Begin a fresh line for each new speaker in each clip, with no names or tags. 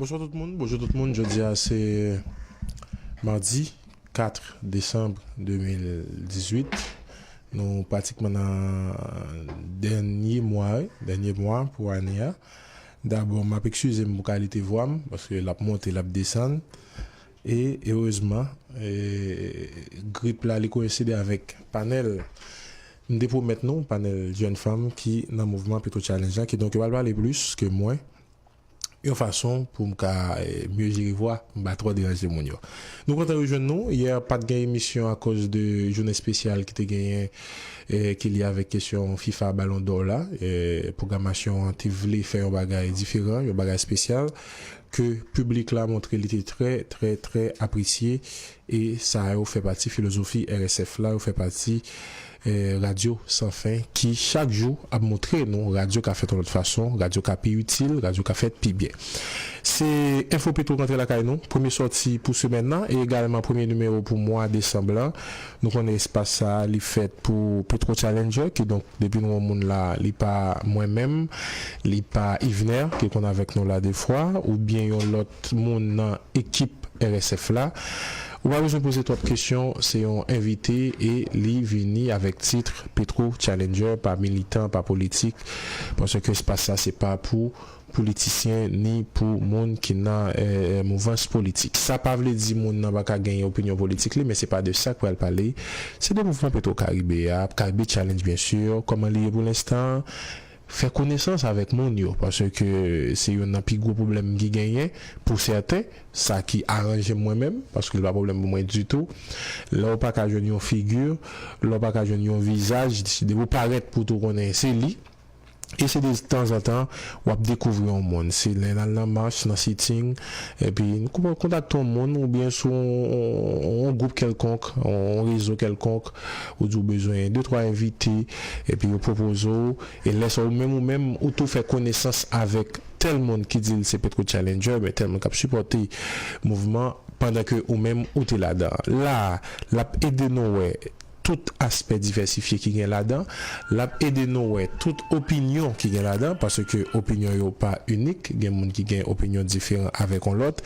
Bonswa
tout moun, bonjou tout moun, jodi a se Mardi 4 Decembre 2018 nou pratikman nan dènye mwa wi, dènye mwa pou ane a dabò map ekskize m pou kalite vwa m paske lap monte lap desann e erezman grip la li koyenside avèk panèl m te pwomèt nou, panèl jèn fanm ki nan mouvman Petro Challenge la kidonk yo pral pale plis ke mwen. yon fason pou m ka mye jere vwa m pa twò deranje moun yo. Nou kontan rejwenn nou, yè pat gen emisyon akoz de jounen espesyal ki te genyen ki lye avèk kesyon fifa balon dò la, pwogramasyon an te vle fè yon bagay diferan, yon bagay espesyal ke piblik la montre li te trè trè trè apresye. E sa yo fè pati filozofi RSF la, yo fè pati Radyo San Fen ki chak jou ap montre nou radyo ka fèt yon lòt fason, radyo ka pi itil, radyo ka fèt pi byen. Se Enfo Petro k antre lakay nou, premye sòti pou semèn nan e egalman premye nimewo pou mwa desanm lan. Nou konnen espas sa a li fèt pou Petro Challenger, kidonk depi nou wè yon moun la, li pa mwen menm, li pa Yvner ki konn avèk nou la defwa oubyen yon lòt. tout moun nan ekip RSF la. Ou pa bezwen poze twòp kesyon, se yon envite e li vini avèk titre Petro Challenger pa militan, pa politik, paske espas la se pa pou politisyen ni pou moun ki nan mouvans politik. Sa pa vle di moun nan pa ka genyen opinyon politik li, men se pa de sa k pral pale, se de mouvman Petro Caribe a, Caribe Challenge byen sur, kòman li ye pou lenstan, Fè konesans avèk moun yo, paske se youn nan pi gwo pwoblèm ki genyen pou sèten, sa ki aranje m mwen menm, paske li pa pwoblèm pou mwen ditou. Lè ou pa ka jwenn yon figi, lè ou pa ka jwenn yon vizaj, depi ou parèt pou tou konnen se li. E se de tanzantan w ap dekouvri yon moun. Se lè n al nan mach, nan sitting, epi n kontakte yon moun oubyen sou yon gwoup kèlkonk, yon rezo kèlkonk. Ou di w bezwen de twa envite, epi yo pwopoze w, e lè sa ou menm ou menm ou tou fè konesans avèk tèl moun ki di l se PetroChallenger oubyen tèl moun k ap sipòte mouvman pandan ke ou menm ou te ladan an. La a, l ap ede nou wè tout aspè divèsifye ki gen ladan, l ap ede nou wè tout opinyon ki gen ladan, paske opinyon yo pa inik, gen moun ki gen opinyon diferan avèk yon lòt,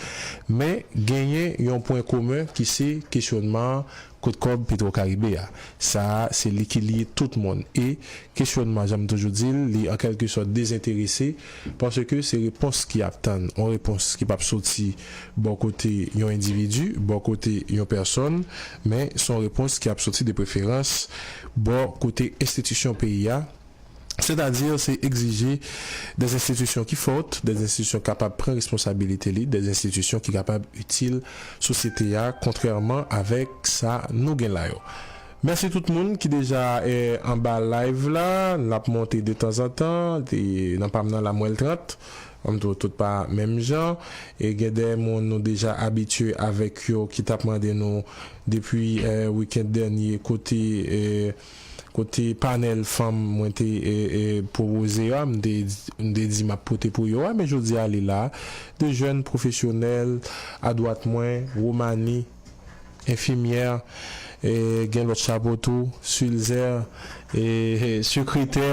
men genyen yon pwen komen ki se kesyonman Kot kòb petrokaribe a? Sa a se li ki lye tout moun e, kesyònman jan m toujou di l, li an kèlke sòt dezenterese paske se repons ki ap tann, yon repons ki p ap soti bò kote yon endividi, bò kote yon pèsòn men s on repons ki ap soti depreferans bò kote enstitisyon peyi a, sètadi se egzije de enstitisyon ki fòt, de enstitisyon ki kapab pran responsabilite li, de enstitisyon ki kapab itil sosyete a kontrèman avèk sa nou gen la yo. Mèsi tout moun ki deja anba live la, l ap monte detanzantan, nan pa m nan la m wè l 30, m tou tout pa menm jan, e gen de moun nou deja abitye avèk yo ki t ap mande nou depi weekend dènye kote. kote panèl fanm mwen te pwopoze yo a, m te di m ap pote pou yo a, men jodi a li la, 2 jèn pwofesyonèl adwat mwen, Romani, enfimyè, gen lòt chapo tou, Sulzer, sekretè,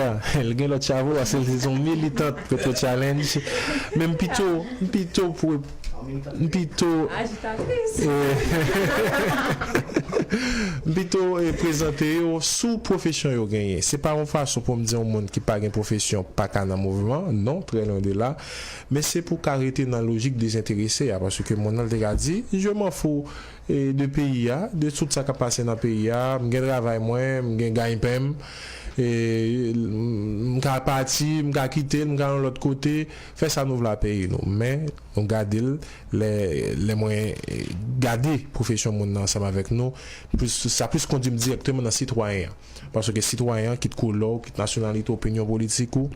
li gen lòt chapo paske li se yon militant Petro Challenge, men m pito, m pito. M pito M pito prezante yo sou pwofesyon yo genyen. Se pa yon fason pou m di yon moun ki pa gen pwofesyon pa ka nan mouvman, non, trè lwen de la. Men se pou ka rete nan lojik dezenterese a, paske moun nan li te ka di, je m'en fou de peyi a, de tout sa k ap pase nan peyi a, m gen travay mwen, m gen gaynpen m, m ka pati, m ka kite l, m ka yon lòt kote. Fè sa nou vle a peyi nou men nou gade l lè lè mwen gade pwofesyon moun nan ansanm avèk nou plis sa plis kondui m dirèkteman nan sitwayen an paske sitwayen an kit koulè w kit nasyonalite w opinyon politik ou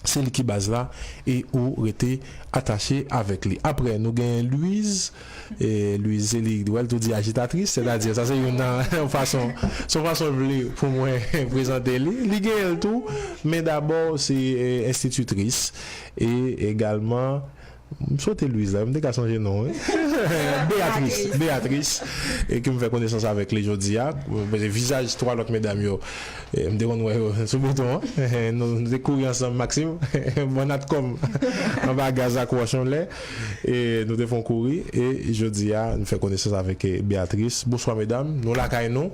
se li ki baz la e ou rete atache avèk li aprè nou gen Luiz Louise Zélie ou wèl tou di ajitatris, sètadi sa se youn nan yon fason, se yon fason l vle pou mwen prezante li. Li genyen l tou, men dabò se enstititris e egalman, m sote Louise la, m te ka sonje non wi, Béatrice, Béatrice ke m fè konesans avèk li jodi a, paske vizaj 3 lòt medam yo m te konn wè yo sou bouton an, nou te kouri ansanm Maxime, bannat kò m anba gaz ak wòch yon lè. E nou te fon kouri e jodia nou fè konesans avèk Beatrice. Bonswa medam, nou lakay nou,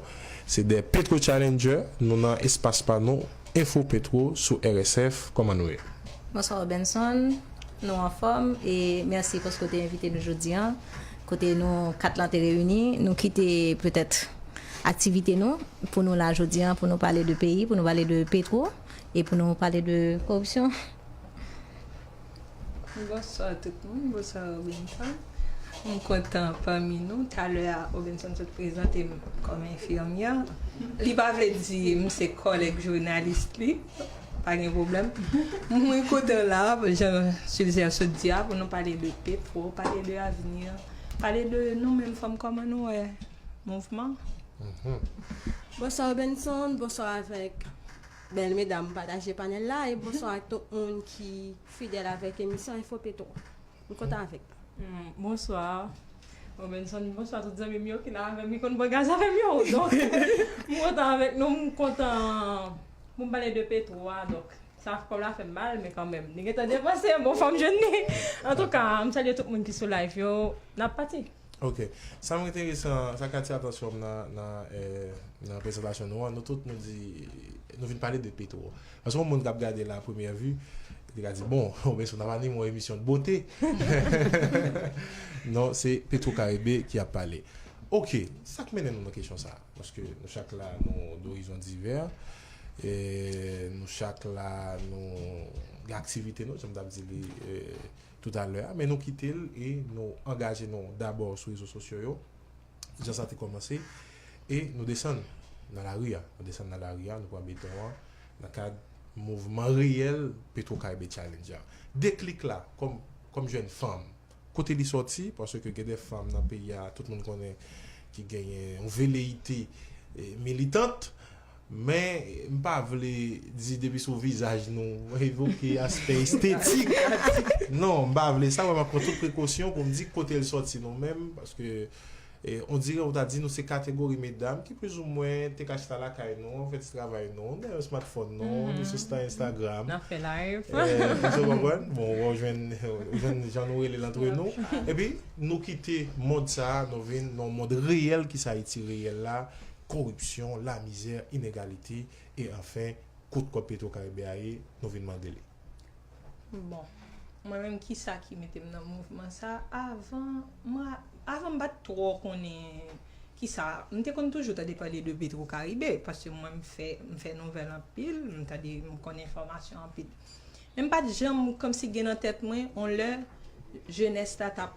se 2 petro challenger, nou nan espas pa nou Info Petro sou RSF, kòman nou ye? Bonswa Robenson,
nou anfòm e mèsi paske w te envite nou jodi an, kote nou 4 lan te reyini, nou kite petèt aktivite nou pou nou la jodi an pou nou pale de peyi, pou nou pale de petro e pou nou pale de koripsyon.
Bonswa tout moun, bonswa Robinson. M kontan pami nou. Talè a Robinson sot prezante m kòm enfimyè. Li pa vle di m se kòlèg jounalis li. Pa gen pwoblèm. Mwen kontan la, jan Sulzer sot di a, pou nou pale de petwo, pale de avni, pale de nou menm fanm kòman nou wè mouvman.
Bonswa Robinson, bonswa avèk. Bèl medam pataje panèl la e bonswa ak tout moun ki fidèl avèk emisyon info petro m kontan avèk nou. Bonswa
Robenson bonswa tout zanmim yo ki la avèm ki konn bwè gaz avèm yo donk m kontan avèk nou m kontan pou m pale de petro a donk sa kòb la fèm mal men kanmèm li gentan depanse bon fòm jwenn li antouka m salye tout moun ki sou live yo nap pati. Ok. Sa m
enteresan, sa k atire atansyon m nan prezantasyon nou an, nou tout nou di, nou vin pale de Petro. Paske yon moun k ap gade l a premyè vi, li ka di, bon, Robinson t ap anime yon emisyon de bote. Non, se Petro Caribe ki ap pale. Ok, sa k mennen nou nan kesyon sa a? Paske nou chak la, nou dorizon divè, nou chak la nou gen aktivite nou, jan m t ap di li. tout a lè a men nou kite l e nou angaje nou dabò sou rezo sosyo yo jan sa te kòmanse e nou desann nan lari a nou desann nan lari a nou pran beton an nan kad mouvman reyèl petrokaribe challenge a deklik la kòm kòm jèn fanm kote li sòti paske gen de fanm nan peyi a tout moun konnen ki genyen yon veleyite militant. Men, m pa vle di depi sou vizaj nou evoke aspè estetik. Non, m pa vle sa, mwen pran tout prekosyon pou m di kote l sòti non men, paske ondirè ou ta di nou se kategori medam ki plizoumwen te ka chita lakay nou an fè ti travay nou, nou gen yon smartphone nou, nou sou stan Instagram. N ap fè
live. Èske ou konprann?
Bon, ou jwenn jan nou rele l antre nou. Epi, nou kite mond sa a, nou vin nan yon mond reyèl ki se Ayiti reyèl la, koripsyon, lamizè, inegalite e anfen kot kòb petro karibe a ye nou vin mande li.
Bon mwen menm kisa ki mete m nan mouvman sa avan m avan m pat twò konnen kisa m te konn toujou tande pale de petro karibe paske mwen m fè m fè nouvèl anpil m tande m konn enfòmasyon anpil men m pat janm kòmsi gen nan tèt mwen on lè jenès la tap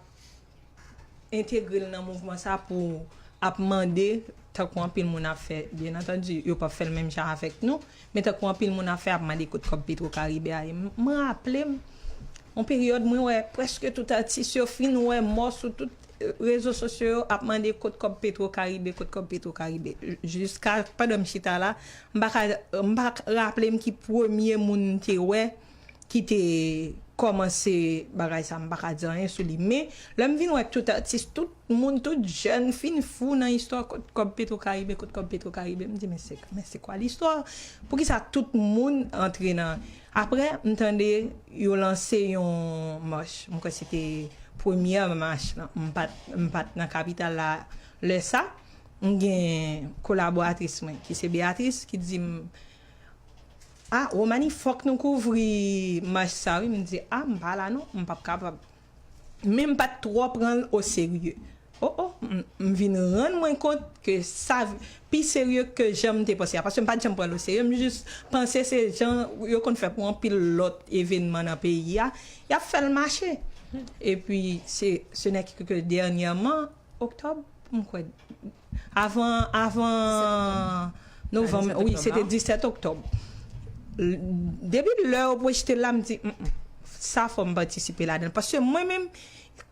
entegre l nan mouvman sa pou ap mande, tankou anpil moun ap fè, byen antandi yo p ap fè l menm jan avèk nou, men tankou anpil moun ap fè ap mande kot kòb Petro Caribe a ye. M raple m yon peryòd mwen wè prèske tout atis yo fin wè mò sou tout rezo sosyo yo ap mande kot kòb Petro Caribe, kot kòb Petro Caribe. Jiska pandan m chita la, m pa ka raple m ki premye moun m te wè. ki te kòmanse bagay sa m pa ka di anyen sou li men lè m vin wè tout atis tout moun tout jèn fin fou nan istwa kot kòb petro karibe kot kòb petro karibe m di men se men se kwa listwa poukisa tout moun antre nan aprè m tande yo lanse yon mach m kwè se te premyè mach lan m pa t m pa t nan kapital la lè sa m gen kolaboratris mwen ki se Béatrice ki di m. Ah Romani fòk nou kouvri mach sa wi m di ah m pa la non m pap kapab men m pat twò pranl o serye oh oh m vin rann mwen kont ke sa pi serye ke jan m te panse a paske m pat janm pranl o serye m jis panse se jan yo konn fè pou anpil lòt evenman nan peyi a yap fèl mache epi se se nè ke dènyèman oktòb m kwè. Avan avan novanm wi se te 17 oktòb depi lè yo pwojte l la m di sa fò m patisipe ladan l paske mwen menm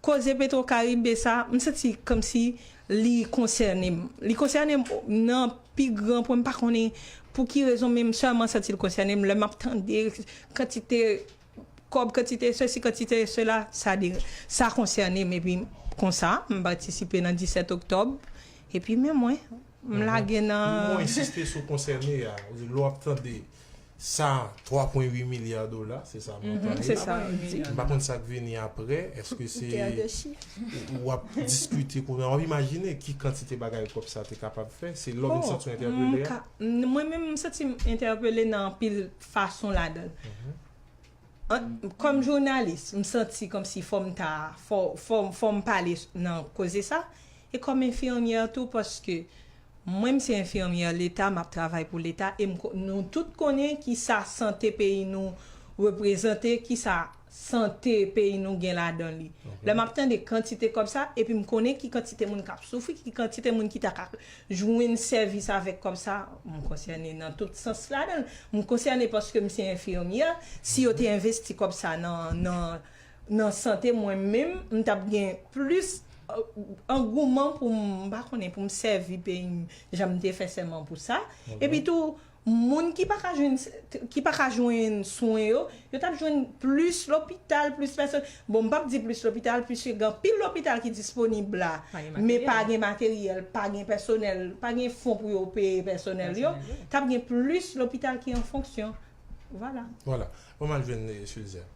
koze petro karibe sa m santi kòmsi li konsène m li konsène m nan pi gran pwen m pa konnen pou ki rezon men m sèlman santi l konsène m lè m ap tande kantite kòb kantite sesi kantite sela sa de sa konsène m epi konsa m patisipe nan 17 oktòb epi men mwen m lage nan. Pou mwen ensiste sou konsène
a wi lè w ap tande sa 3 pwen 8 milya dola se sa montan li
la m pa konn sa k
vini aprè èske se w ap diskite kounye a w ap imajine ki kantite bagay kòb sa te kapab fè se lè w vin santi w entèpele a. Mwen menm m
santi m entèpele nan anpil fason ladan l. Kòm jounalis, m santi kòmsi fò m ta, fò m pale nan koze sa. E kòm enfimyè tou paske mwen m se enfimyè leta, m ap travay pou leta e nou tout konnen kisa sante peyi nou reprezante, kisa sante peyi nou gen ladan li. Lè m ap tande kantite kòb sa, epi m konnen ki kantite moun k ap soufri, ki kantite moun ki ta ka jwenn sèvis avèk kòb sa, m konsène nan tout sans ladan l. M konsène paske m se enfimyè, si yo te envesti kòb sa nan sante mwen menm, m t ap gen plis angouman pou m, m pa konnen, pou m sèvi peyi m jan m te fè sèman pou sa. Epitou. Moun ki pa ka jwenn ki pa ka jwenn swen yo, yo tap jwenn plis lopital, plis pèsonèl. Bon m pap di plis lopital puiske gen anpil lopital ki disponib la, men pa gen materyèl, pa gen pèsonèl, pa gen fon pou yo peye pèsonèl yo, tap gen plis lopital ki an fonksyon. Vwala. Vwala. Bon m al
jwenn Sulzer.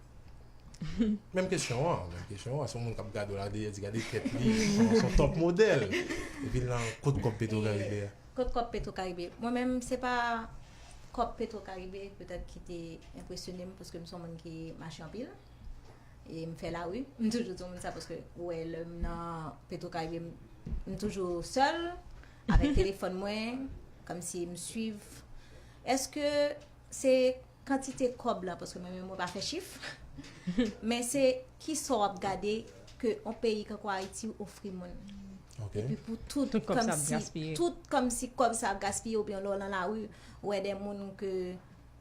Menm kesyon an, menm kesyon an, se yon moun kap gade w la, li gade tèt li, se yon tòp modèl. Epi l nan kot kòb petro karibe a? Kot kòb petro karibe?
Mwen menm se pa kòb petro karibe petèt ki te enpresyone m paske m son moun ki mache anpil e m fè lari. M toujou di moun sa paske ou wè lè m nan petro karibe m toujou sèl avèk telefòn mwen kòmsi m swiv. Eske se kantite kòb la paske mwen menm mwen pa fè chif men se kisa w ap gade ke yon peyi tankou Ayiti ofri moun epi pou tout kòmsi kòb sa ap gaspiye oubyen lè w nan lari ou wè de moun ke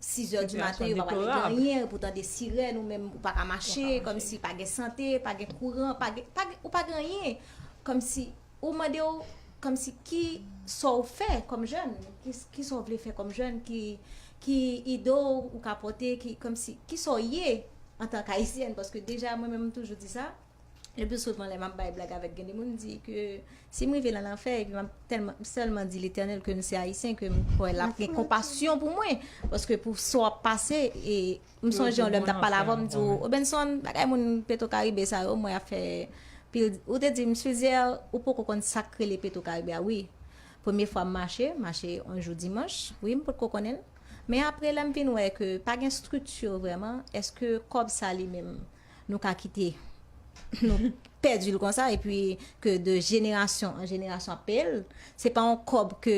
6 zè di maten yo pa pale de anyen ou potan de sirèn ou menm ou pa ka mache kòmsi pa gen sante, pa gen kouran ou pa gen anyen kòmsi Ou mande w kòmsi ki sa w fè kòm jèn, ki sa w vle fè kòm jèn, ki ide w ou ka pote, kòmsi ki sa w ye antan k ayisyèn. Paske deja mwen menm m toujou di sa, le pli souvan lè m ap bay blag avèk gen de moun m di ke si m rive nan lanfè epi m ap tèlman m sèlman di letènèl ke m se ayisyen ke m kwè l ap gen konpasyon pou mwen paske pou sa w ap pase e M sonje yon lè m t ap pale avè w, m di w, Robenson, bagay moun Petwokaribe sa yo, m wè y ap fè pil. Ou te di m, Swizè, ou poko konn sa k rele Petwokaribe a. Wi, premye fwa m mache, m mache yon jou dimanch, wi, m potko konnen l. Men apre, lè m vin wè ke pa gen estrikti vrèman, èske kòb sa li menm nou ka kite nou pèdi l konsa epi ke de jenerasyon an jenerasyon ap peye l? Se pa yon kòb ke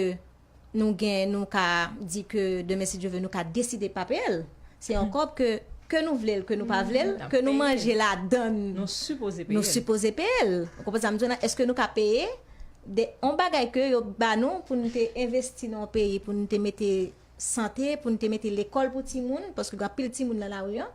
nou gen nou ka di ke demen si Dye ve nou ka deside pa peye l. Se yon kòb ke ke nou vle l ke nou pa vle l, ke nou manje ladann nou sipoze peye l. Ou konprann sa m di w la? Eske nou ka peye de yon bagay ke yo ba nou pou nou te envesti nan yon peyi pou nou te mete sante, pou nou te mete lekòl pou timoun paske gen anpil timoun nan lari an.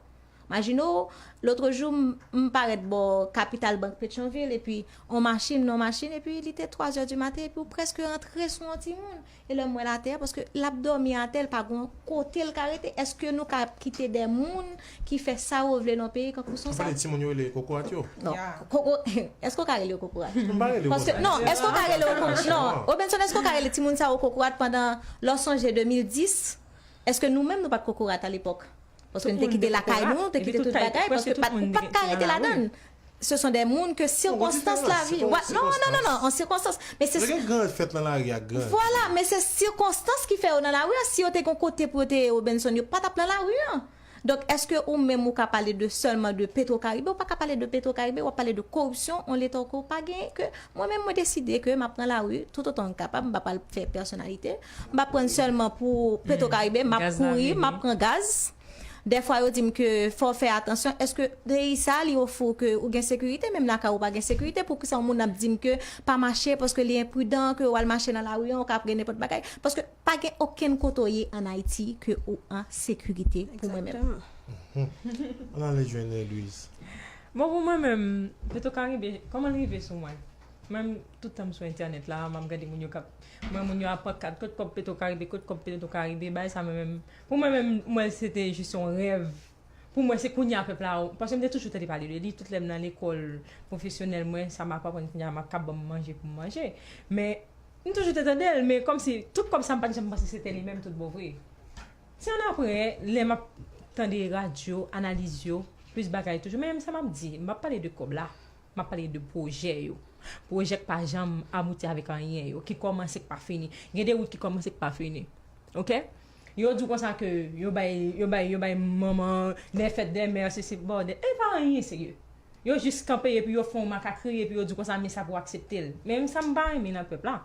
Majino, lotrejou m parèt bò kapital bank Petyonvil epi on machin, non machin epi li te twazè di maten epi ou prèske rantre sou on timoun. E lè m wè l atè a, paske l ap dòmi atè, l pa gon kote l ka rete. Èske nou ka ap kite de moun ki fè sa yo vle nan on peyi kankou son sa? Ou pale de timoun yo rele kokorat yo?
Non. Koko,
èske ou ka rele yo kokorat? M pa rele yo konsa. Paske, non, èske ou ka rele yo kokorat? Non. Robenson, èske ou ka rele timoun sa yo kokorat pandan lè w sonje 2010, èske nou menm nou pa t kokorat alepòk? Paske nou te kite lakay nou, nou te kite tout bagay, paske ou pa t ka rete ladann. Se son de moun ke sikonstans lavi. Non, non, non, non, non, an sikonstans. Men se. Yo gen gran fèt nan lari
a, gran. Vwala, men se
sikonstans ki fè yo nan lari a. Si yo te gen yon kote pou yo te ye Robinson, yo pa t ap nan lari a. Donk, èske ou menm ou ka pale de sèlman de Petro Caribe? Ou pa ka pale de Petro Caribe, w ap pale de koripsyon yon leta ke w pa genyen, ke mwen menm mwen deside ke m ap nan lari toutotan m kapab, m pa pral fè pèsonalite. M pa prann sèlman pou petrokaribe m ap kouri m ap pran gaz dèfwa yo di m ke fò w fè atansyon èske peyi sa li ofri w ke ou gen sekirite menm lakay ou pa gen sekirite poukisa yon moun ap di m ke pa mache paske li enpridan ke wal mache nan lari an ou ka pre nenpòt bagay paske pa gen okenn kote w ye an ayiti ke ou an sekirite pou mwen menm.
Ann ale jwenn Louise. Bon pou mwen
menm petrokaribe kòman l rive sou mwen. Mwen m tout tanm sou entènèt la map gade moun yo kap m wè moun yo ap pankat kot kòb petro karibe kot kòb petro karibe bagay sa mwen menm pou mwen menm m wèl se te jis yon rèv pou mwen se kounya pèp la paske m te toujou tande pale de li tout lèm nan lekòl pwofesyonèl mwen sa map aprann kounya map kap banm manje pou m manje men m toujou te tande l men kòmsi tout kòb sa m pat janm panse se te li menm tout bon vre se annapre lè map tande radyo analiz yo plis bagay toujou men sa map di m pap pale de kòb la. M ap pale de pwojè yo. Pwojè k pa janm abouti avèk anyen yo, ki kòmanse k pa fini. Gen de wout ki kòmanse k pa fini. Ok? Yo di w konsa ke yo bay, yo bay, yo bay manman de fèt dè mè, se se bòdè. E pa anyen serye. Yo jis kanpe epi yo fè yon makakri epi yo di w konsa men sa pou w aksepte l. Men m sa m pa renmen nan pèp la.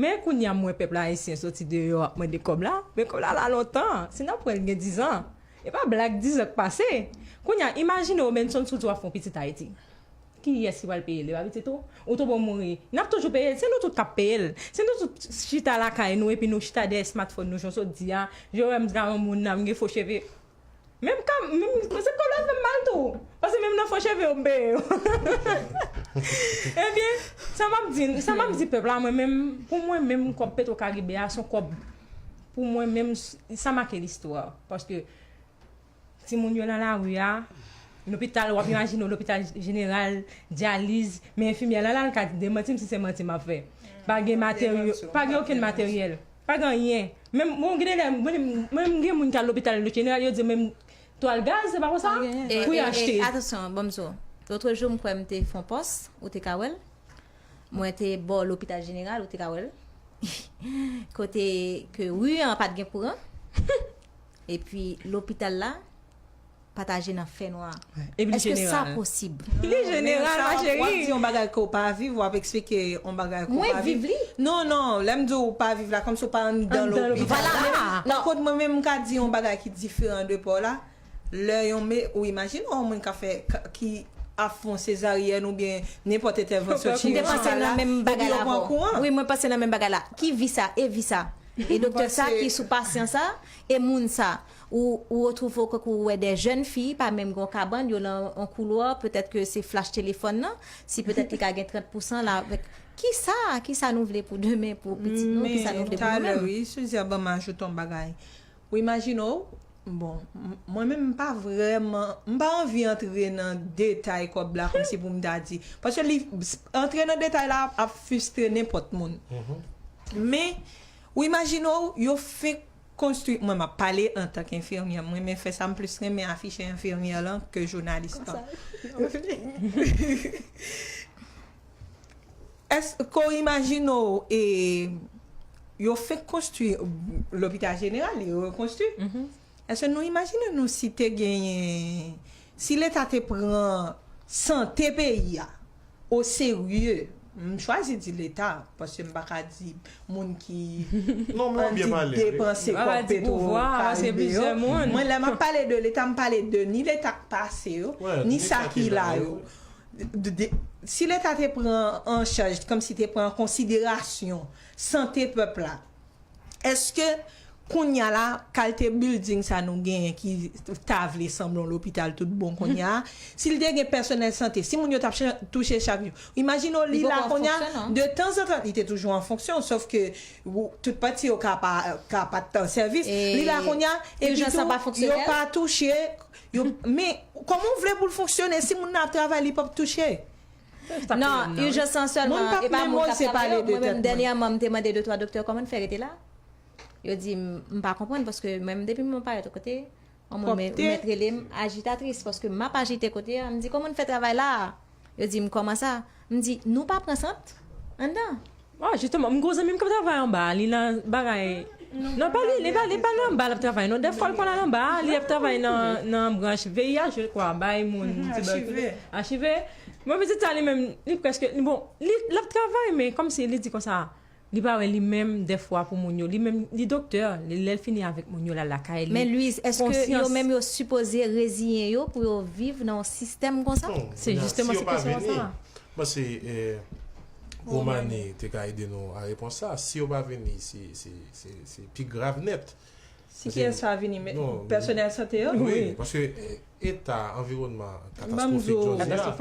Men kounya mwen pèp ayisyen soti deyò ap mande kòb la, men kòb la la lontan, si nap wè li gen 10 ans, e pa blag 10 ans k pase, kounya imajine Robenson soti wap fè yon pitit Ayiti, kiyès ki pral peye l, e pa pitit ou, ou tobo mouri, nap toujou peye l, se nou tout kap peye l, si nou tout chita lakay nou epi nou chita dèyè smartphone nou jan w sot di a, je wè m gran moun la, m gen fo cheve. Menm ka menm se kòlòt menm mal tou pase menm nan fo cheve yo m peye yo ebyen sa map di sa map di pèp la mwen menm pou mwen menm kòb petro karibe a son kòb pou mwen menm sa make listwa paske timoun yo nan lari a lopital wap imajine w lopital jeneral dyaliz men enfimyè la lal ka demanti m si se manti map fè pa gen materyo pa gen okenn materyèl. Pa gen anyen. Menm bon gen de lè mwen menm gen moun ki al lopital jeneral yo di yo menm twal gaz se pa konsa Pa gen anyen. pou y achte. E atansyon bon m di
w. Lotrejou m kwè m te fon pòs, ou te ka wè l. Mwen te bò lopital jeneral ou te ka wè l. Kote ke ri an pa t gen kouran. Epi lopital la. pataje nan fènwa a. Epi li jeneral. Èske
sa posib?
Li jeneral
ma cheri. Wap di yon bagay
ke
w pa
viv, wap eksplike yon bagay ke w pa viv. Mwen viv li. Non,
non, lè
m
di w
pa viv la, kòmsi w pa anndan lopital la. Vwala. Nan kot
mwen menm m ka
di yon bagay ki diferan de pa w la, lè yon me, ou imajine yon moun ka fè, ki ap fon sezaryèn oubyen nenpòt entèvansyon chirijikal la,
epi yo pran kou an. Wi, mwen pase nan menm
bagay la.
Ki vi sa? E vi sa? E doktè sa ki sou pasyan sa? E moun sa? Ou ou retrouve w kòk ou wè de jèn fi pa menm gen yon kabann yo nan yon koulwa petèt ke se flash telefòn nan si petèt li ka gen 30 pousan la avèk kisa kisa nou vle pou demen pou pitit nou kisa nou vle pou nou menm. Men talè wi Cesia banm
ajoute yon bagay ou imajine w bon mwen menm m pa vrèman m pa anvi antre nan detay kòb la kòmsi pou m ta di paske li antre nan detay la ap fustre nenpòt moun men ou imajine w yo fenk konstwi mwen map pale antan k enfirmyè m renmen fè sa m plis renmen afiche enfirmyè lan ke jounalis lan èske w imajine w e yo fenk konstwi lopital jeneral yo rekonstwi èske nou imajine nou si te genyen si leta te pran sante peyi a. O serye! M chwazi di leta, paske m pa ka di moun ki annik
depanse kòb petwo
karibe
yo. Mwen lè m ap pale de
leta, m pale de ni leta k pase yo, ni sa ki
la yo.
Si leta te pran an chaj, kòmsi te pran an konsiderasyon sante pèp la, Eske kounya la kalte bilding sa nou genyen ki ta vle sanble yon lopital tout bon kounya a, si l te gen pèsonèl sante, si moun yo t ap touche chak jou. Imajine w li la kounya, de tanzantan li te toujou an fonksyon sof ke tout pati yo ka pa t an sèvis, li la kounya epi tou yo pa
touche,
men kòman w vle pou l fonksyone si moun nan ap travay li p ap touche? Nan
urgence lan selman e pa moun kap
travay yo mwen
menm
dènyèman m te mande
2
3
doktè kòman n fè rete la yo di m m pa konprann paske mwen menm depi m wè parèt yon kote yon moun mèt rele m ajitatris paske map ajite kote a m di kòman n fè travay la a yo di m kòman sa m di nou pa pran sant anndan. Ah justement m gon
zanmim kap travay anba a li nan bagay non pa li li pa nan anba lap travay non dèfwa l konn al anba a li ap travay nan branch VIH je kwa bay moun tibèkiloz achive mwen pitit sa li menm li prèske bon lap travay men kòmsi li di konsa li pa wè li menm dèfwa pou moun yo li menm li doktè lèl fini avèk moun yo lal lakay li men Louise èske
yo menm yo sipoze reziyen yo pou yo viv nan yon sistèm konsa se jisteman se
kesyon an sa. Bon se
Romani te ka ede nou a repons sa, si yo pa vini se pi grav nèt. Si kiyès pa
vini men pèsonèl sante yo?
Wi,
paske
eta anviwònman katastwofik jodi a,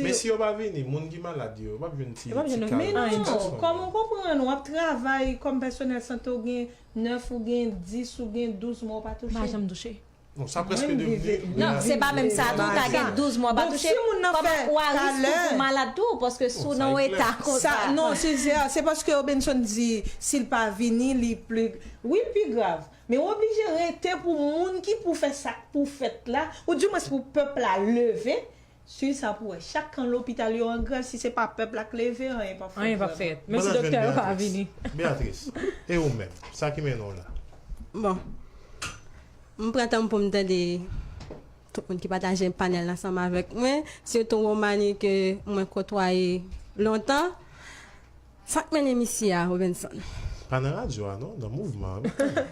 men si yo pa vini moun ki malad yo, yo pap jwenn ti kal. Men non,
kòm ou konprann ou ap travay kòm pèsonèl sante ou gen 9 ou gen 10 ou gen 12 mwa ou pa touche. Ou pa janm touche.
Non sa preske devni
Non se pa menm
sa tou ka gen 12 mwa ou pa touche Koman ou a risk pou ou malad tou paske si w nan yon eta konsa Non Cesaire se
paske Robenson di si l pa vini li pli wi l pi grav men ou oblije rete pou moun ki pou fè sa k pou fèt la ou di mwens pou pèp la leve Swiv sa pou wè. Chak kan lopital yo an grèv si se pa pèp la k leve anyen pap fèt vrèman. Mwen la
jwenn Beatrice. Beatrice,
e ou menm? Sa ki mennen w la? Bon.
M pran tan m pou m tande tout moun ki pataje panèl la ansanm avèk mwen, sitou Romany ke mwen kotwaye lontan. Sa k mennen misye a Robenson? Pa nan radyo
a non, nan mouvman an wi.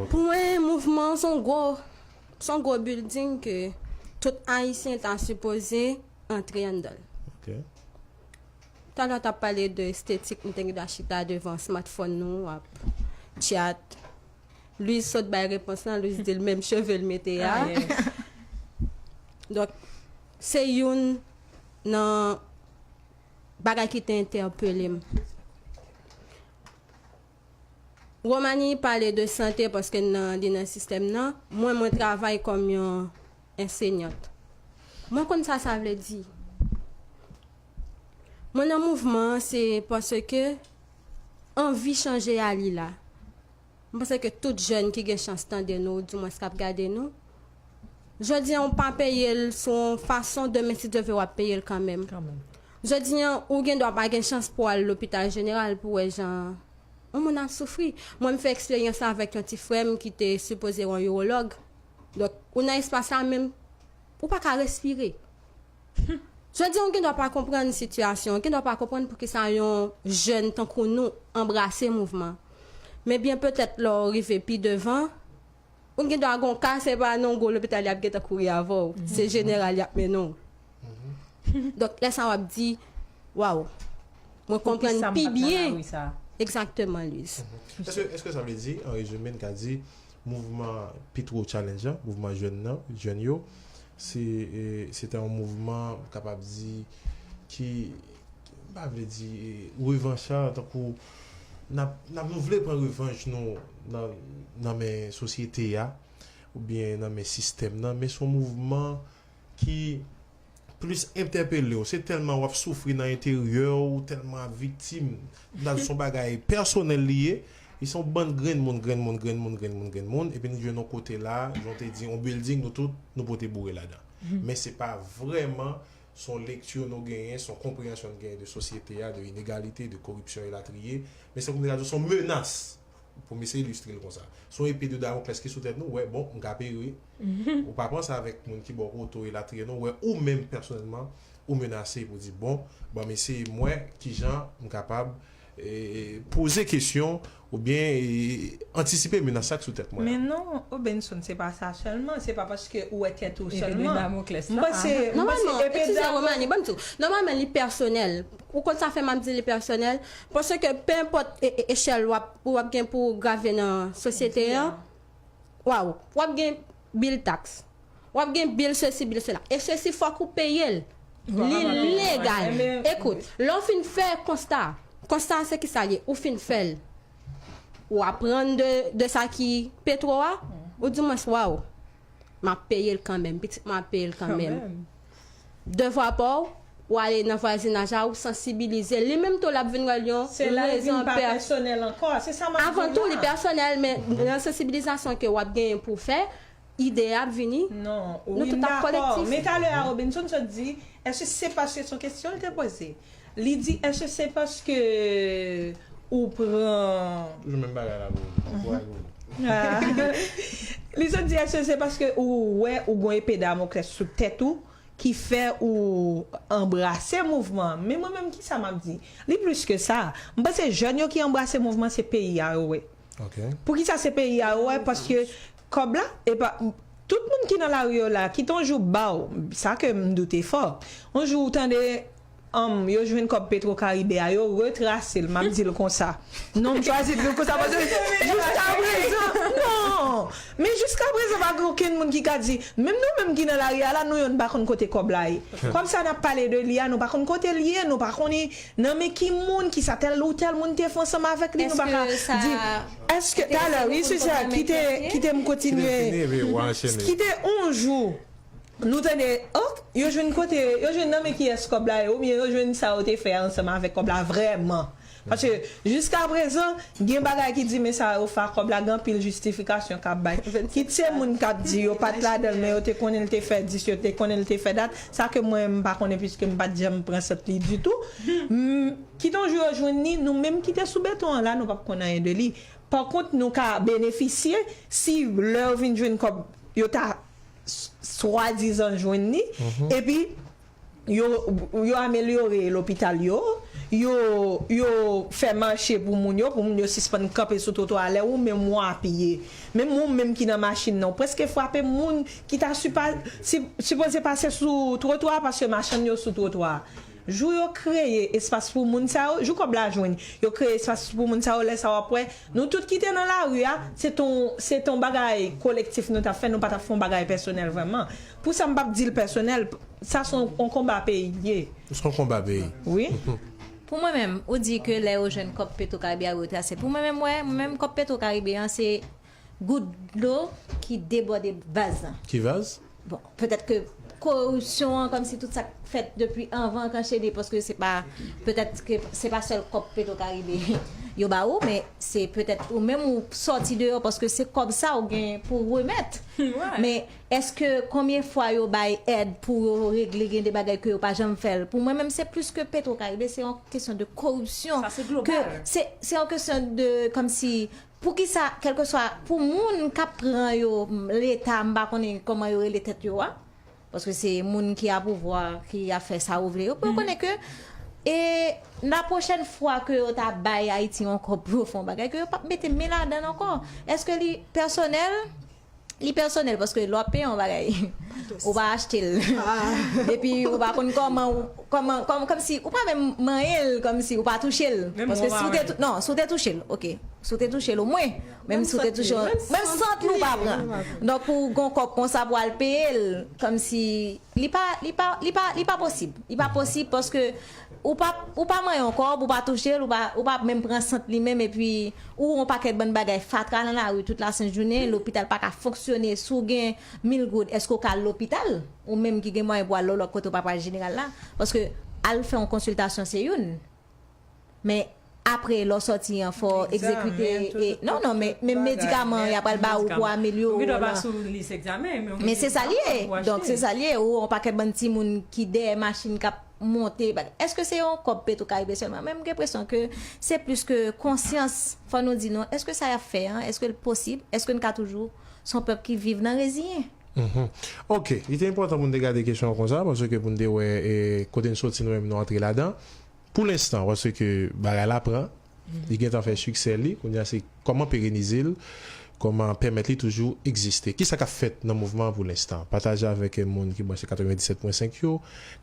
Pou
mwen mouvman an s on gwo Son gwo building ke tout ayisyen ta sipoze antre anndanl. Talè w tap pale de estetik m te gntan chita devan smartphone nou ap tchat. Louise sot bay repons lan, Louise dil menm cheve l mete a. Donk se youn nan bagay ki te entèpele m. Romani pale de sante paske n nan li nan sistèm nan. Mwen, mwen travay kòm yon ensenyant. Mwen konn sa sa vle di. Mwen nan mouvman an se paske anvi chanje a li la. Mwen panse ke tout jèn ki gen chans tande nou ou di mwens k ap gade nou, jodi an ou pa peye l sou yon fason demen si Dye vle w ap peye l kanmenm. Jodi an, ou gen dwa pa gen chans pou w al lopital jeneral pou w wè jan yon moun ap soufri. Mwen m fè eksperyans la avèk yon ti frè m ki te sipoze wè yon iwològ. Donk, ou nan espas la men ou pa ka respire. Hum! Jodi an ou gen dwa pa konprann sitiyasyon, ou gen dwa pa konprann poukisa yon jèn tankou nou anbrase mouvman. Men byen petèt lè w rive pi devan, Ou gen dwa gen yon ka, se pa nan yon gwo lopital y ap gentan kouri avè w. Se jeneral y ap mennen w. Donk, lè sa w ap di, Waw! Mwen konprann pi byen. Egzakteman, Liz. Èske sa
vle di, an rezime, n ka di mouvman Petro Challenge la, mouvman jèn nan, jèn yo, se te yon mouvman, m kapab di, ki, m pa vle di revanchard, tankou. Nap nou vle pran revanj nou nan men sosyete a oubyen nan men sistèm nan men son mouvman ki plis entèpelew se tèlman wap soufri nan enteryè ou tèlman ap viktim nan son bagay pèsonèl li ye e son bann grenn moun grenn moun grenn moun grenn moun grenn moun epi nou jwenn yon kote la jan ou te di yon bilding nou tout nou pote boure ladan men se pa vrèman S on lekti nou genyen, s on konpreyansyon n genyen de sosyete a, de inegalite, de koripsyon elatriye. Men se kòm si ta di w s on menas, pou m eseye ilistre l konsa. S on epe de Damoklès ki sou tèt nou, w wè bon, m ka peri. Ou pa pran sa avèk moun ki ba w kote w elatriye non, w wè ou menm pèsonèlman ou menase pou di bon, ban m eseye m wè kijan m kapab Poze kesyon oubyen antisipe menas la k sou tèt mwen. Men non, O Benson,
se pa sa sèlman, se pa paske ou wè tèt ou sèlman. Epe Damoclès la. Nòmalman, eskize
Romani, banm di w, nòmalman li pèsonèl. Ou konn sa fè map di li pèsonèl? Paske penenpòt echèl wap gen pou w grave nan sosyete an, waww, wap gen Bil taks. W ap gen bil sesi bil sela. E sesi fòk ou peye l. Li legal. Ekout, lè w fin fè konsta a, konsta a se ki sa l ye? Ou fin fè l. Ou aprann de sa ki petwo a, ou di mwens waw, m ap peye l kanmenm, pitit mwen ap peye l kanmenm. Devwa paw, ou ale nan vwazinaj la ou sansibilize, li menm tou lap vin wèl yon rezon pè. Se la li vin pa
pèsonèl ankò, se sa map di la. Avan tou li pèsonèl
men nan sansibilizasyon ke wap genyen pou fè, ide a ap vini. Non, wi m
dakò,
men talè a Robinson
sot di, èske se paske son kesyon l te poze? Li di eske se paske ou pran. Toujou menm bagay la
boo ankouraj
boo. Li sot di eske se paske ou wè ou gon epe damokles sou tèt ou ki fè ou anbrase mouvman an men mwen menm kisa map di li plis ke sa m panse jèn yo ki anbrase mouvman se peyi a yo wè poukisa
se peyi
a yo wè paske kòb la epa tout moun ki nan lari yo la kit on jou baw sa ke m doute fò on jou ou tande Humm yo jwenn kòb petro karibe a yo retrasel map dil konsa non m chwazi dil konsa paske jiskaprezan non men jiskaprezan pa gen okenn moun ki ka di menm nou menm ki nan lari a la nou yonn pa konn kote kòb la ye kòb sa nap pale de li a nou pa konn kotel ye nou pa konnen nan men ki moun ki sa tèl ou tèl moun te fè ansanm avèk li nou pa ka di eske talè wi sesa kite kitem kontinye kite on jou. Nou tande ok yo jwenn kote yo jwenn nan men kiyès kòb la ye oubyen yo jwenn sa yo te fè ansanm avèk kòb la vrèman paske jiskaprezan gen bagay ki di men sa yo fè ak kòb la gen anpil jistifikasyon kap bay kit se moun kap di yo pat ladan l men yo te konnen l te fè dis yo te konnen l te fè dat sa ke mwen m pa konnen piske m pat janm pran sant li ditou kit on jou yo jwenn li nou menm ki te sou beton an la nou pap konn anyen de li pakont nou ka benefisye si lè yo vin jwenn kòb yo ta swadizan jwenn ni, epi yo amelyore lopital yo, yo fè mache pou moun yo, pou moun yo sispann kanpe sou twotwa, lè ou menm ou apiye, menm ou menm ki nan machin nan, ou prèske frape moun ki ta sipoze pase sou twotwa, paske machann yo sou twotwa. Jou yo kreye espas pou moun sa yo, jou kòb la jwenn, yo kreye espas pou moun sa yo, lè sa wap wè nou tout ki te nan lari a, se t on se t on bagay kolektif nou tap fè, nou pa tap fè yon bagay pèsonèl vrèman. Pou sa m pap di l pèsonèl, sa son on konba peyi l ye. S on konba peyi.
Wi.
Pou mwen
menm, ou di ke lè yo jwenn kòb Petro Karibe a yo retrase. Pou mwen menm m wè, mwen menm kòb Petro Karibe an se Gout dlo ki debòde vaz lan. Ki vaz?
Bon, petèt ke
koripsyon an, kòmsi tout sa k fèt depi anvan an k anchene, paske se pa, petèt ke se pa sèl kòb Petro Caribe yo ba ou, men se petèt ou menm ou sòti deyò paske se kòb sa ou gen pou w remèt. Men, èske konbyen fwa yo bay èd pou yo regle gen de bagay ke yo pa janm fè l? Pou mwen menm se plis ke Petro Caribe, se yon kesyon de koripsyon. Sa se global.
Se yon kesyon
de, kòmsi, Poukisa kelkeswa pou moun kap pran yo leta m pa konnen koman yo rele tèt yo a paske se moun ki a pouvwa ki ap fè sa yo vle yo pou yo konnen ke e la pwochèn fwa ke yo ta bay Ayiti yon kòb pou yo fè yon bagay ke yo pap mete men ladann ankò eske li pèsonèl Li pèsonèl paske lè w ap peye yon bagay ou pa achte l epi ou pa konn kòman ou kòman kòmsi ou pa menm manyen l kòmsi ou pa touche l paske si w te touche l non si w te touche l ok si w te touche l omwen menm si w te touche l menm sant li ou pa pran donk pou w gen yon kòb konsa pou w al peye l kòmsi li pa li pa li pa li pa posib li pa posib paske Ou pa ou pa manyen yon kòb, ou pa touche l, ou pa ou pa menm pran sant li menm epi ou wè yon pakèt bann bagay fatra nan lari tout lasent jounen, lopital pa ka fonksyone si w gen mil goud èske w ka al lopital? Ou menm ki gen mwayen pou w al lòlòt kote ou pa pral jeneral la paske al fè yon konsiltasyon se youn men Apre lè w sòti an fò w egzekite e non non men medikaman y apral ba ou pou amelyore w lan men se sa li ye donk se sa li ye ou on pakèt bann timoun ki dèyè machin k ap monte èske se yon kòb petro karibe sèlman men m gen enpresyon ke se plis ke konsyans fò nou di nou èske sa y ap fè an èske l posib èske n ka toujou s on pèp ki viv nan reziyen. Ok
li te enpòtan pou n te gade kesyon an konsa paske pou n te wè kote n sòti nou menm nou antre ladan Pou lenstan paske bagay la pran, li gentan fè siksè li, kounye a se kòman perenize l, kòman pèmèt li toujou egziste. Kisa k ap fèt nan mouvman an pou lenstan? Pataje avèk moun ki branche 97 pwen 5 yo,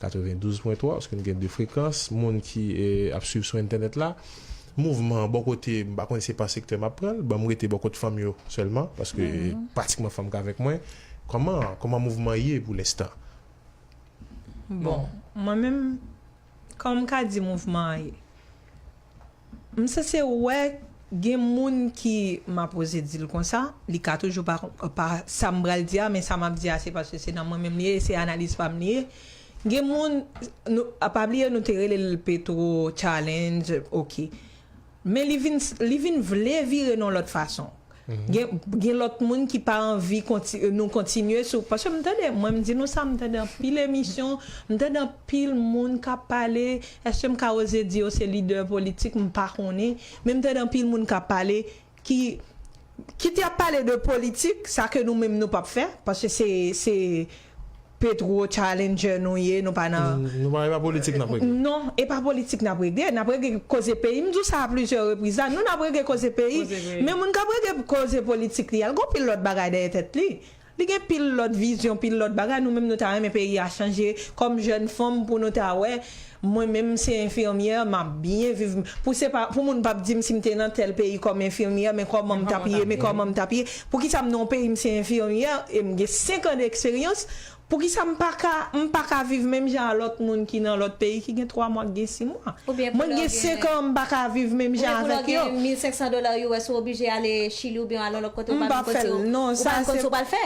92 pwen 3, paske nou gen 2 frekans, moun ki ap swiv sou entènèt la. Mouvman an bò kote m, m pa konnen se pa sektè m ap pran l, banm rete bò kot fanm yo sèlman, paske pratikman fanm k avèk mwen, kòman, kòman mouvman ye pou lenstan?
Bon, mwen menm. Kòman m ka di mouvman an ye? M sanse wè gen moun ki, m ap oze di l konsa, li ka toujou pa sa m pral di a, men sa m ap di a se paske se nan mwen menm li ye e se analiz pa m li ye, gen moun, pa bliye nou te rele l Petro Challenge, ok. Men li vin li vin vle vire non lòt fason. Gen gen lòt moun ki pa anvi konti nou kontinye sou paske m tande mwen m di nou sa m tande anpil emisyon, m tande anpil moun k ap pale, èske m ka oze di yo se lidè politik m pa konnen, men m tande anpil moun k ap pale ki kit y ap pale de politik, sa ke nou menm nou p ap fè paske se se Petro challenger nou ye nou pa nan. Nou pa e pa politik nap regle. Non
e pa
politik nap regle nap regle koze peyi m di w sa a plizyè repriz la nou nap regle koze peyi men moun kap regle koze politik li a l gon pil lòt bagay dèyè tèt li li gen pil lòt vizyon pil lòt bagay nou menm nou ta renmen peyi a chanje kòm jèn fanm pou nou ta wè Mwen menm se enfimyè map byen viv pou se pa pou moun pap dim sim te nan tèl peyi kòm enfimyè men kòmanm tap ye men kòmanm tap ye poukisam nan yon peyi m se enfimyè em gen 5 an de eksperyans poukisa m paka m paka viv menm jan a lòt moun ki nan lòt peyi ki gen 3 mwa ki gen 6 mwa mwen gen 5 an m paka viv menm jan avèk yo. Oubyen pou lè w gen 1500 dola US ou
oblije ale chili oubyen al yon lòt kote ou pa menm konn si w ou pa menm
konn si w pral fè.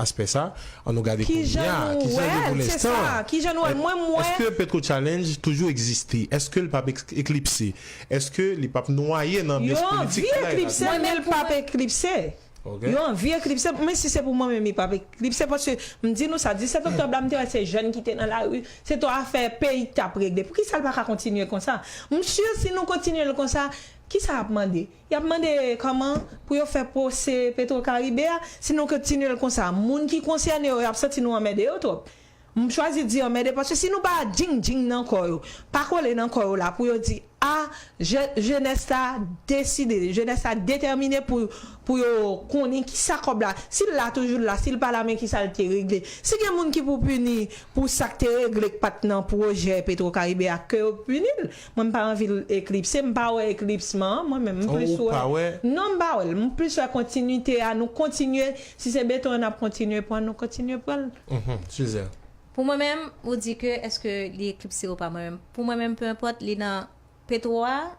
aspè sa, an nou gade kounye a, kijan
nou wè l, se sa, kijan nou wè l, mwen m wè. Eske Petro
Challenge toujou egziste? Eske l pap eklipse? Eske li pap nwaye nan anbyans politik kay la? Yo anvi eklipse l, men
l pap eklipse. Yo anvi eklipse l, men si se pou mwen menm li pap eklipse, paske m di nou sa, 17 oktòb la m te wè se jèn ki te nan lari, se to afè peyi k t ap regle. Poukisa l pa ka kontinye konsa? M si si nou kontinye l konsa, kisa y ap mande? Y ap mande kòman pou yo fè pwose Petrocaribe a, si nou kntinye l konsa, moun ki konsène yo y ap santi nou anmède yo twòp. M chwazi di anmède paske si nou pa djing djing nan kò yo, pa kole nan kò yo la pou yo di a je jenès la deside, jenès la detèmine pou pou yo konnen ki sa kòb la, si l la toujou l la, si l pa la men ki sa l te regle. Si gen moun ki pou pini pou sa k te regle k pa t nan pwojè Petrocaribe a, ke yo pini l. Mwen m pa anvi l eklipse, m pa wè eklipsman an mwen menm, m plis wè, non m pa wè l, m plis wè kontinite a, nou kontinye, si se beton an n ap kontinye pran, nou kontinye pran l. Suze.
Pou mwen menm, ou di ke èske li eklipse ou pa, mwen menm, pou mwen menm, penenpòt li nan petwo a,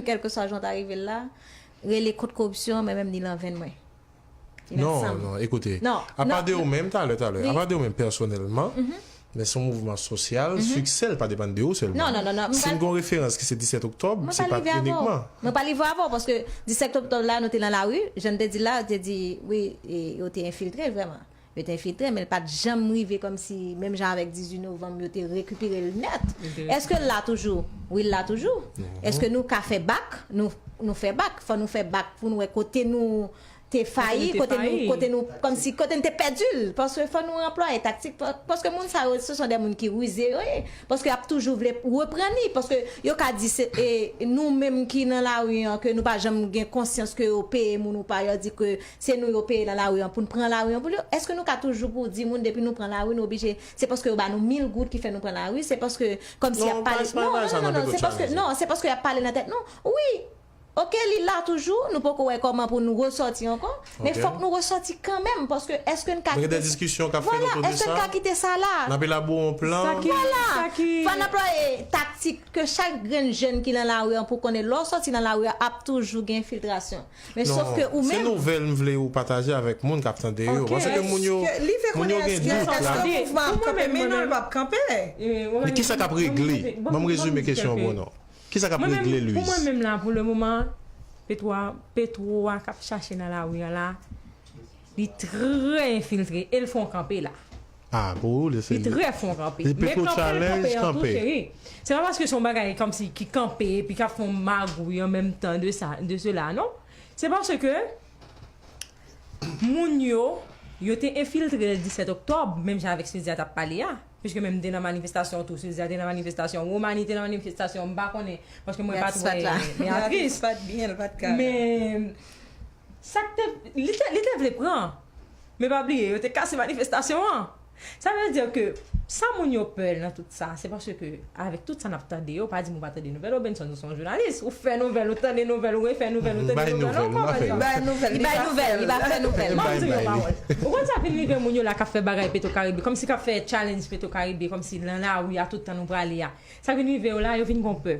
kèlkeswa jan w ta rive la, rele kont koripsyon an, mwen menm li lan venn mwen.
Non, non, ekoute, apa de ou menm, talè, talè, apa de ou menm pèsonèlman, men son mouvman sosyal, siksè l pa depann de ou sèlman. Non, non, non, non, m pa. Si n gen yon
referans ki
se 17 oktòb, se pa t inikman. Mwen pa live avè w
paske 17 oktòb la nou te nan lari, jan n te di l la, te di wi, yo te enfiltre vrèman. Yo te enfiltre, men l pa t janm rive kòmsi menm jan avèk 18 novanm yo te rekipere l nèt. Èske l la toujou? Wi l la toujou. Èske nou ka fè bak? Nou fè bak. Fò nou fè bak pou n wè kote nou te fayi, kote nou kote nou kòmsi kote n te pèdi l. Paske fò nou anplwaye taktik paske moun sa yo se son dè moun ki rize yo ye. Paske y ap toujou vle reprann li paske yo ka di se nou menm ki nan lari an ke nou pa janm gen konsyans ke yo peye moun ou pa y ap di ke Se nou yo peye nan lari an pou n pran lari an pou yo. Èske nou ka toujou pou di moun depi nou pran lari nou oblije se paske yo ba nou mil goud ki fè nou pran lari, se paske kòmsi y ap pale non non non non non se paske non se paske y ap pale nan tèt nou wi ok li la toujou nou poko wè kòman pou n resòti ankò men fòk nou resòti kanmenm paske èske n ka kite sa
vwala èske n ka kite
sa la vwala fò n anplwaye taktik ke chak grenn jèn ki nan lari an pou konnen lè w sòti nan lari a ap toujou gen filtrasyon Men sof ke ou menm. Non, se nouvèl
m
vle ou
pataje avèk moun k ap tande yo. Pase ke moun yo gen dout la. Eske mouvman ap kanpe? Men non, li p ap kanpe. Men kisa k ap regle? Ban m rezime kesyon an bon non. Kisa k ap regle Louise? Pou mwen menm la pou le moman,
petwo a k ap chache nan lari an la. Li trè enfiltre el fon kanpe la. Ah pou ou li
se. Li trè fon kanpe.
Li peko challenge
kanpe. Se pa paske son
bagay komsi ki kanpe epi kap fon magouy an menm tan de sa de sela non. Se paske moun yo yo te enfiltre le 17 oktòb menm jan avèk Silzia tap pale a. Piske menm te nan manifestasyon tou Silzia te nan manifestasyon Romani te nan manifestasyon m pa konnen paske mwen pat wè Beatrice. Men. Sa k te. Li te, li te vle pran. Men pa bliye, yo te kase manifestasyon an. Sa vle di ke sa moun yo pè nan tout sa, se paske avèk tout sa n ap tande yo, pa di m ou pa tande nouvèl Robinson, ou se yon jounalis, ou fè nouvèl, ou tande nouvèl, ou refè nouvèl, ou tande nouvèl, non pa fè nouvèl. Li bay nouvèl, li pa fè nouvèl. Ban m di w yon pawòl. Ou konn sa k vin rive moun yo la k ap fè bagay Petrocaribe, kòmsi k ap fè challenge Petrocaribe, kòmsi nan lari a tout tan nou prale a. Sa k vin rive yo la, yo vin gen yon pè.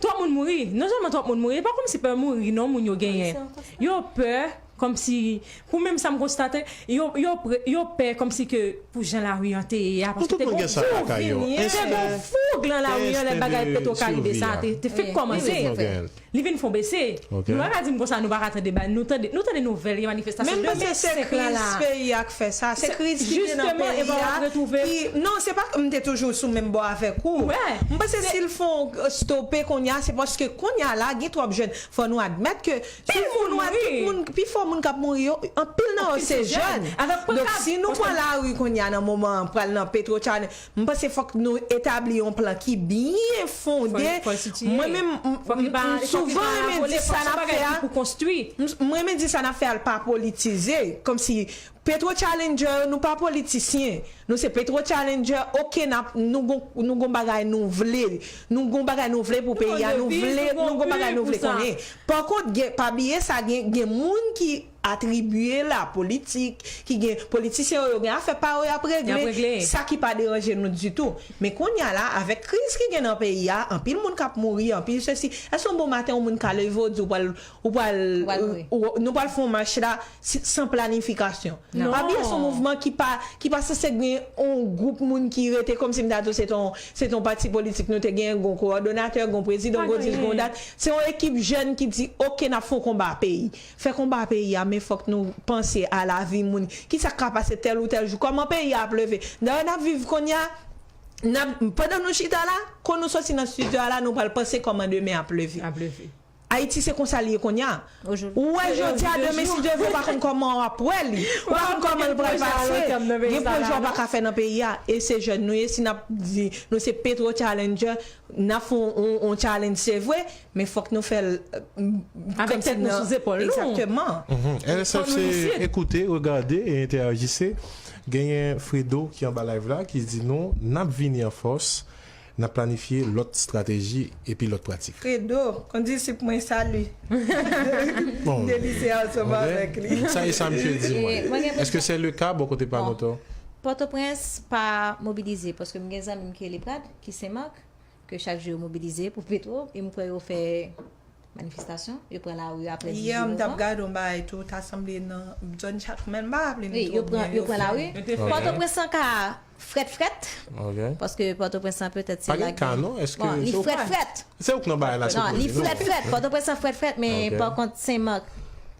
Twòp
moun mouri, non sèlman twòp moun mouri, e pa kòmsi pè mouri non moun yo genyen. Yo pè kòmsi, pou menm sa m konstate, yo pè kòmsi ke pou jan lari an te ye a, paske te gon foug lan lari an lè bagay petro karibe sa a te fèk kòmanse, li vin fon bese. Nou pa ka dim konsa nou pa ka tande ba nou tande nou tande nouvèl gen manifestasyon demen 5 la la. Menm paske se kriz
peyi a k fè sa, se kriz ki gen nan peyi a ki non se pa m te toujou sou menm bò avèk ou m panse si l fon stope konnya se paske konnya la gen twòp jèn fò nou admèt ke tout moun wè tout moun pi fò moun k ap mouri yo anpil nan yo se jèn donk si nou pran lari konnya nan moman an pral nan petro chanèl M panse fòk nou etabli yon plan ki byen fonde, mwen menm m souvan renmen di sa nap fè a,
m renmen di sa nap
fè a l pa politize, kòmsi petro challenger yo nou pa politisyen, nou se petro challenger ok nap nou gon bagay nou vle, nou gon bagay nou vle pou peyi a, nou vle nou gon bagay nou vle konnen, pa kont gen pa bliye sa gen moun ki. atribye la politik ki gen politisyen yo yo gen afè pa yo yap regle sa ki pa deranje nou ditou men kounya la avèk kriz ki gen nan peyi a anpil moun kap mouri anpil sesi èske yon bon maten yon moun ka leve ou di ou pral ou pral nou pral fè yon mach la san planifikasyon pa bliye son mouvman ki pa ki pa sanse gen yon gwoup moun ki rete kòmsi m ta di ou se te yon se te yon pati politik nou te gen gon kowòdonatè gon prezidan gon dis gon dat se yon ekip jèn ki di ok nap fè yon konba peyi. Fè konba peyi a men fòk nou panse a lavi moun. Kisa k ka pase tèl ou tèl jou? Kòman peyi a ap leve? Dayè n ap viv kounye a, n ap, pandan nou chita la, kou nou soti nan stidyo a la nou pral panse kòman demen ap leve. Ayiti se konsa l ye kounye a. Ou wè jodi a, demen si Dye vle ou pa konn kòman w ap wè li. Ou pa konn kòman l pral pase. Gen pwojè ou pa ka fè nan peyi a. E se jèn nou ye, si n ap di nou se Petro Challenger, n ap fè yon challenge se vre, Men fòk nou fè l Avèk
tèt nou sou zepòl nou. Exactement.
RSF se
ekoute, regade e enterajise. Genyen Fredo ki anba live la ki di nou nap vini an fòs, nap planifye lòt strateji epi lòt pratik. Fredo, kondisip
mwen salut.
Deli se ansanm
avèk li. Sa e sa misye di mwen.
Eske se le ka bò kote pa nou tou? Pòtoprens
pa mobilize paske m gen zanmi m ki rele Prat ki Senmak. Ke chak jou yo mobilize pou petro e m kwè yo fè manifestasyon, yo pran lari aprè 18 novanm. Yè m tap gade yon bagay
tou ta sanble nan zòn Chatoumèn m pa raple m twò byen yo fè. Wi yo pran lari.
Pòtoprens lan ka frèt frèt
paske pòtoprens
lan petèt se la gen bon li
frèt frèt.
Se ou k nan bagay
la se ou k nan di non. Li frèt frèt
pòtoprens lan frèt frèt men pa kont Senmak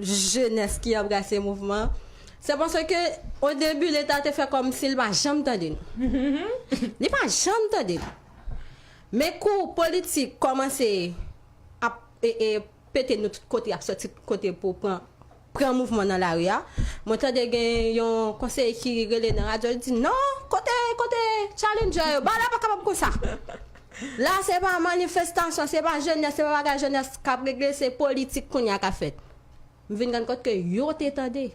jenès ki anbrase mouvman an, se paske odebi leta te fè kòmsi li pa janm tande nou. Li pa janm tande nou. Men kou politik kòmanse ap pete nou tout kote, y ap sòti tout kote pou pran mouvman nan lari a, mwen tande gen yon konseye ki rele nan radyo li di, non, kote challenjè yo, ba la pa kapab konsa. La se pa manifestasyon, se pa jenès, se pa bagay jenès kap regle, se politik kounye a kap fèt. M vin rann kont ke yo te tande.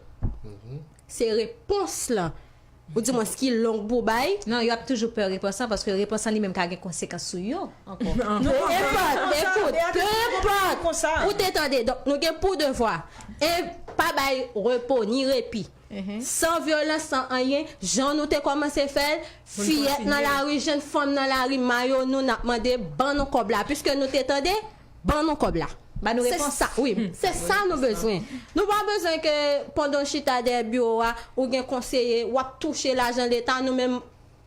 Se repons lan, ou di mwens ki long pou bay. Non, yo ap toujou pè
repons lan, paske repons lan li menm ka gen konsekans sou yo ankò. Pe enpòt,
ekout, pe enpòt, ou te tande. Donk nou gen pou devwa, 1, pa bay repo ni repi. San vyolans san anyen, jan nou te kòmanse fè l, fiyèt nan lari, jenn fanm nan lari, mayo nou n ap mande ban nou kòb la. Piske nou te tande, ban nou kòb la. Ban nou repons. Wi, se sa nou bezwen. Nou pa bezwen ke pandan w chita dèyè biwo a, ou gen konseye, w ap touche lajan leta, nou menm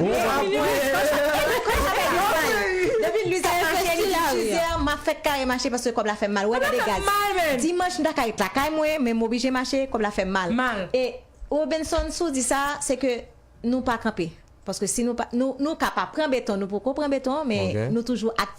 Li ap pran.
Depi Lwiz ap mache li di chizè an map fèt kare mache paske kòb la fèm mal wè gade gaz dimanch m ta ka ret lakay mwen men m oblije mache kòb la fèm mal e
Robenson
sou di sa se ke nou pa kanpe paske si nou pa nou nou ka pa pran beton nou poko pran beton men nou toujou ak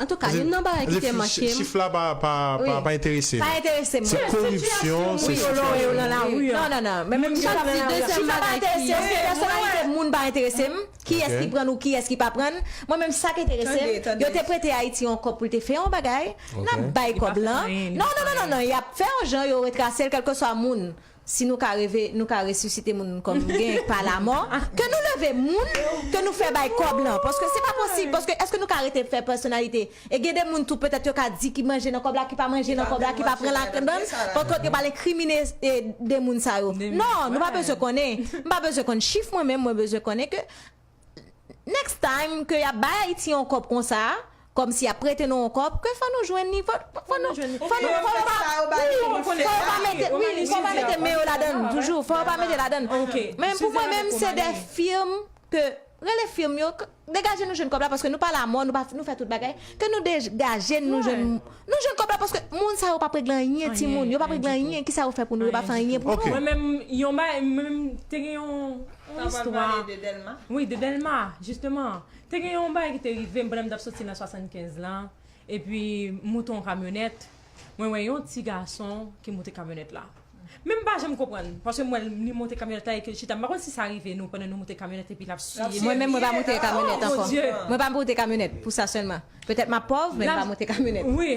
Antouka,
youn nan bagay ki te make m. Chif la
pa enterese nou. Pa enterese m. Se
koripsyon,
se sitiyasyon nan lari
an. Non, non, non. Moun chak
di dezyèm bagay ki. Chif la pa enterese m. Paske pèsonalite moun pa enterese m. Kiyès ki pran l ou kiyès ki pa pran l. Mwen menm sa k enterese m. Yo te prete Ayiti yon kòb pou l te fè yon bagay. N ap bay kòb lan. Non, non, non, non, non. Y ap fè yon jan yo retrase l kèlkeswa moun. Si nou ka reve, nou ka resisite moun kòm gen pa lamò. Ke nou leve moun ke nou fè bay kòb lan. Paske se pa posib. Paske èske nou ka rete fè pèsonalite? E gen de moun tou petèt yo ka di ki manje nan kòb la, ki pa manje nan kòb la, ki pa pran ladann. Pankont yo pral enkrimine de moun sa yo. Non! Nou pa bezwen konnen. M pa bezwen konn chif mwen menm, mwen bezwen konnen ke. Next time ke yap bay Ayiti yon kòb konsa, kòm si yap prete nou yon kòb, ke fò nou jwenn li, fò nou, fò nou, fò nou, fò yo pa mete, wi, fò yo pa mete men yo ladann toujou, fò yo pa mete ladann. Men pou mwen menm se de firm ke, rele firm yo, degaje nou jwenn kòb la paske nou pa lamò, nou pa, nou fè tout bagay, ke nou degaje nou jwenn. Nou jwenn kòb la paske moun sa yo pap regle anyen timoun yo pap regle anyen kisa yo fè pou nou yo pa fè anyen pou nou. Mwen menm yon bagay
mwen menm te gen yon istwa wi
de dèlma
jisteman te gen yon bagay ki te rivem pandan m tap soti nan 75 lan epi m moute yon kamyonèt mwen wè yon ti gason ki moute kamyonèt la. Men m pa janm konprann, paske m wè l li monte kamyonèt la epi l chita, m pa konn si sa rive nou pandan nou monte kamyonèt epi l ap siye nou. Mwen menm mwen pa monte kamyonèt
ankò. Mwen pa monte kamyonèt pou sa sèlman. Petèt m ap pòv men m pa monte kamyonèt. Wi.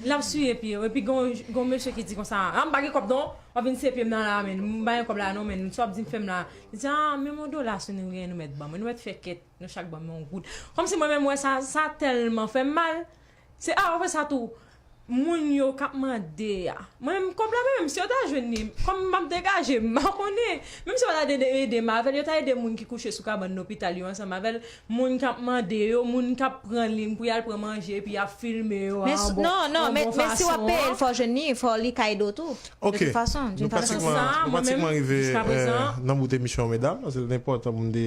L ap siye pye yo epi gen yon mesye ki di konsa, a m pa gen kòb non, w ap vin siye pye m nan la men, m pa gen kòb la non men, sa w ap di m fè m la. Li di a menm yon dola si nou gen nou mèt ban mwen, nou mèt fè kèt nou chak ban mwen yon goud. Kòmsi mwen menm m wè sa, sa tèlman fè m mal, Se aprè sa tou moun yo kap mande a. Mwen menm m kòb la mwen menm si yo ta jwenn li kòm map degaje m pa konnen menm si yo ta ede m avèl yo ta ede moun ki kouche sou kabann lopital yo ansanm avèl moun kap mande yo moun kap pran li pou yal pran manje epi yap filme yo a yon bon fason an. Men
si wap peye l fò jwenn li fò li ka ede w tou de tout fason d'une façon ou d'une autre. Ok nou pratikman rive
nan bout emisyon an medam se l te enpòtan pou m te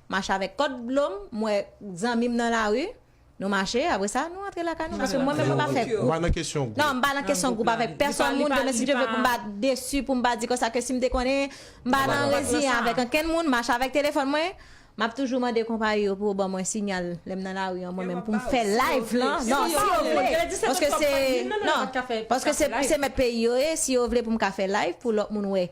mache avèk kòd dlo m m wè zanmi m nan lari nou mache apre sa nou antre lakay nou paske mwen menm mwen pa fè gwoup non
m pa nan kesyon gwoup avèk
pèsòn moun demen si Dye vle pou m pa desi pou m pa di konsa ke si m te konnen m pa nan reziyen avèk ankenn moun mache avèk telefòn mwen m ap toujou mande konpayi yo pou yo ban mwen sinyal lè m nan lari an mwen menm pou m fè live lan non si yo vle paske se non paske se mèt peyi yo ye si yo vle pou m ka fè live pou lòt moun wè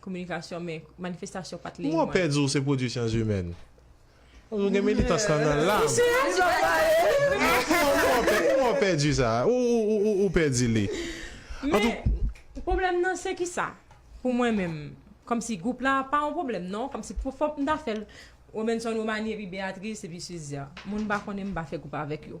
kominikasyon men manifestasyon pat lè yon an. Mwen pè di w se pwodwi
syans imèn. Ou gen militans lan nan lam. Ou se yon zòbòyè. Ou pè di sa. Ou pè di li. Men
pwoblèm nan se ki sa pou mwen menm kòm si gwoup la pa yon pwoblèm non kòm si pou fòk m ta fè l Robinson Romanie epi Béatrice epi Suzia moun m pa konnen m pa fè gwoup avèk yo.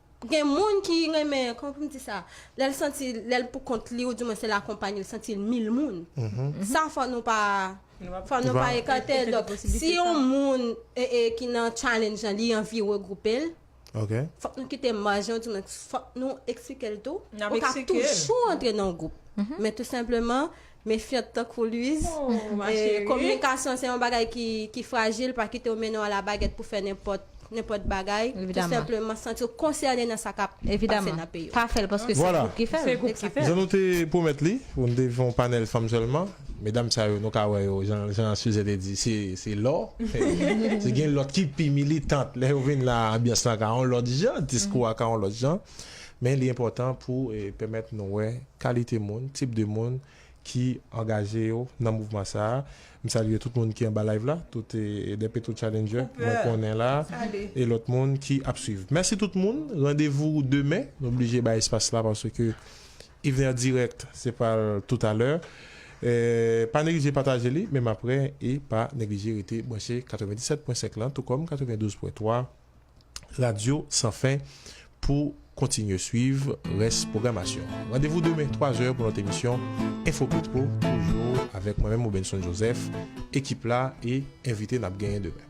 Gen moun ki renmen, kòman pou m di sa, lè l santi lè l pou kont li ou di mwens l akonpanye l santi l mil moun. Sa fò nou pa fò nou pa ekate l. Donk si yon moun ki nan challenge lan li anvi regwoupe l, fòk nou kite maj lan ou di mwens fòk nou eksplike l tou. Ou ka toujou antre nan yon gwoup. Men tou senpleman Mefyant tankou Luiz. Oh ma chérie. Kominikasyon se yon bagay ki frajil, pa kite yo mennen w a la bagèt pou fè nenpòt nenpòt bagay. Tou senpleman santi w konsène nan sa kap pase nan peyi w. Pa fè
l paske se gwoup ki fè l. Jan nou te
pwomèt li, pou nou te fè yon panèl fanm sèlman, medam sa yo nou ka wè yo jan Suze te di se lò. Gen lòt ki pi militant, lè yo vin la anbyans lan ka yon lòt jan, diskou a ka yon lòt jan. Men li enpòtan pou pèmèt nou wè kalite moun, tip de moun ki angaje yo nan mouvman sa a. M salye tout moun ki anba live la, tout de Petro Challenger mwen konnen la e lòt moun ki ap swiv. Mèsi tout moun, randevou demen, nou blije bay espas la paske Yvener Direct se pral tout alè. Pa neglije pataje li menm aprè e pa neglije rete branche 97.5 lan tou kòm 92.3. Radyo San Fen pou kontinye swiv rès pwogramasyon an. Randevou demen 3 zè pou lòt emisyon Enfo Petro, toujou avèk mwen menm Robenson Joseph, ekip la e envite n ap genyen demen.